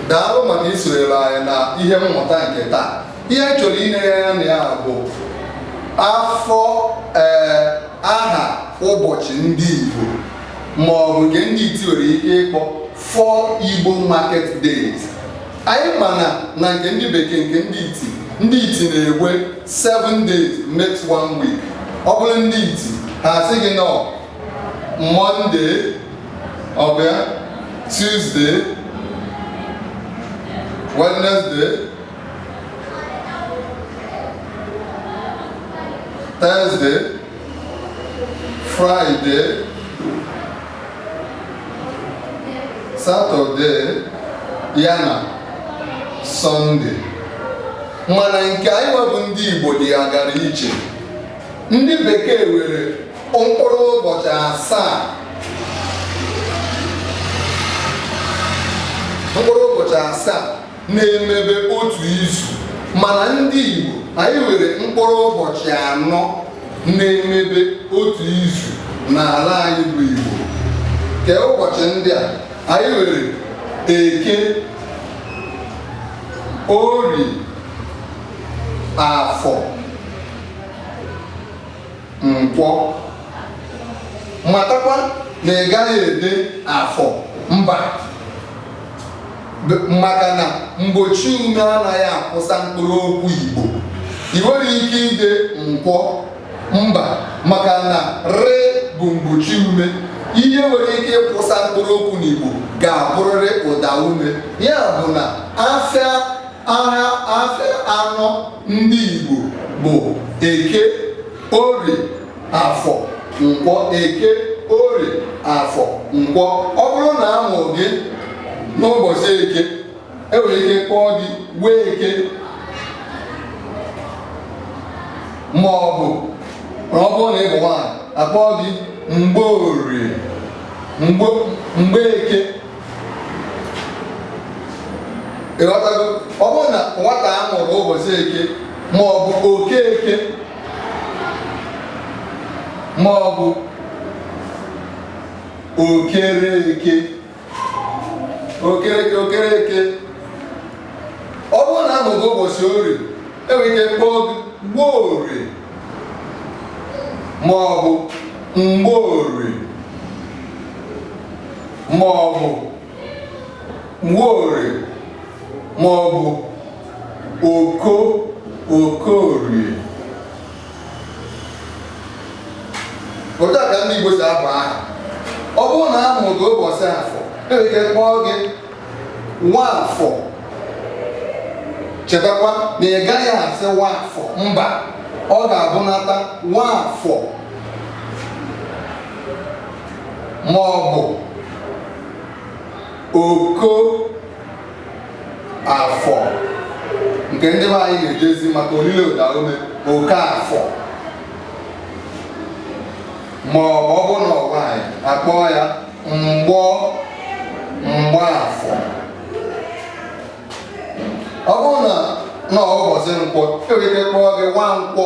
daalụ maka isonyere anyị na ihe mmụta nke taa ihe anyị chọrọ ine anya na ya bụ afọ ee aha ụbọchị ndị Igbo ma ọ bụ nke ndị iti nwere ike ịkpọ four Igbo market days anyị ma na na nke ndị bekee nke ndị iti ndị iti na-enwe 7 days makes one week ọ bụrụ ndị iti ha asị gị n'ọ mọnde ọ bịa tuzde wenesde tọzde fraịde satọde ya na sọnde mana nke anyị nwa bụ ndị igbo dịwagara iche ndị bekee nwere mkpụrụ ụbọchị asaa mkpụrụ ụbọchị asaa na-emebe otu izu mana ndị Igbo anyị nwere mkpụrụ ụbọchị anọ na-emebe otu izu n'ala anyị bụ Igbo kee ụbọchị ndị a anyị nwere eke orie afọ nkwọ matakwa na ị gaghị ede afọr mba maka na mgbochi ume anaghị akwụsa mkpụrụ okwu Igbo i nwerọ ike ide nkwọr mba maka na r bụ mgbochi ume ihe nwere ike ịkwụsa mkpụrụ okwu n'Igbo ga-abụrịrị ụda ume ya bụ na afịa aha afịa anọ ndị Igbo bụ eke orie afọ nkwọ eke orie afọ nkwọ ọ bụrụ na a mụrụ gị n'ụbọchị eke e nwere ike kpọọ gị nweke ma ọ bụ na ọ bụrụ na ị bụ nwaanyị a kpọọ gị mgborie mgbeke ịghọtago ọ bụrụ na nwata a mụrụ ụbọchị eke ma ọ bụ okeke ma ọ bụ okereke okereke okereke ọ bụrụ na a mụọ gị ụbọchị orie e nwere ike kpọọ gị nworie ma ọ bụ mgborie ma ọ bụ nwaorie ma ọ bụ oko okorie otu a ka ndị Igbo si abụ aha ọ bụrụ na a mụrụ gị ụbọchị afọ enwere ike kpọọ gị nwaafọ chetakwa na ị gaghị asị nwaafọ mba ọ ga-abụnata nwaafọ ma ọ bụ oko afọ nke ndị be anyị na-edezi maka olilo ụdaume okaafọ ma ọ bụ ọ bụrụ na ọ bụ nwaanyị akpọọ ya mgbọ mgbọ afọ ọ bụrụ na ọ bụ ụbọchị nkwọ enwere ike kpọọ gị nwa nkwọ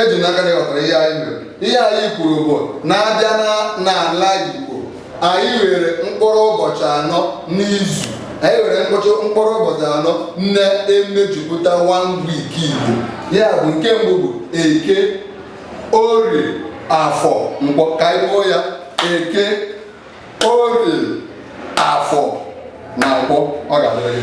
eji m n'aka na ị ghọtara ihe anyị mere ihe anyị kwuru bụ na a bịa n'ala Igbo anyị nwere mkpụrụ ụbọchị anọ n'izu anyị nwere mkpụrụ ụbọchị anọ na-emejupụta one week Igbo ya bụ nke mbụ bụ eke orie afọ nkwọ ka anyị kpọọ ya eke orie afọ na nkwọ ọ ga-adịrị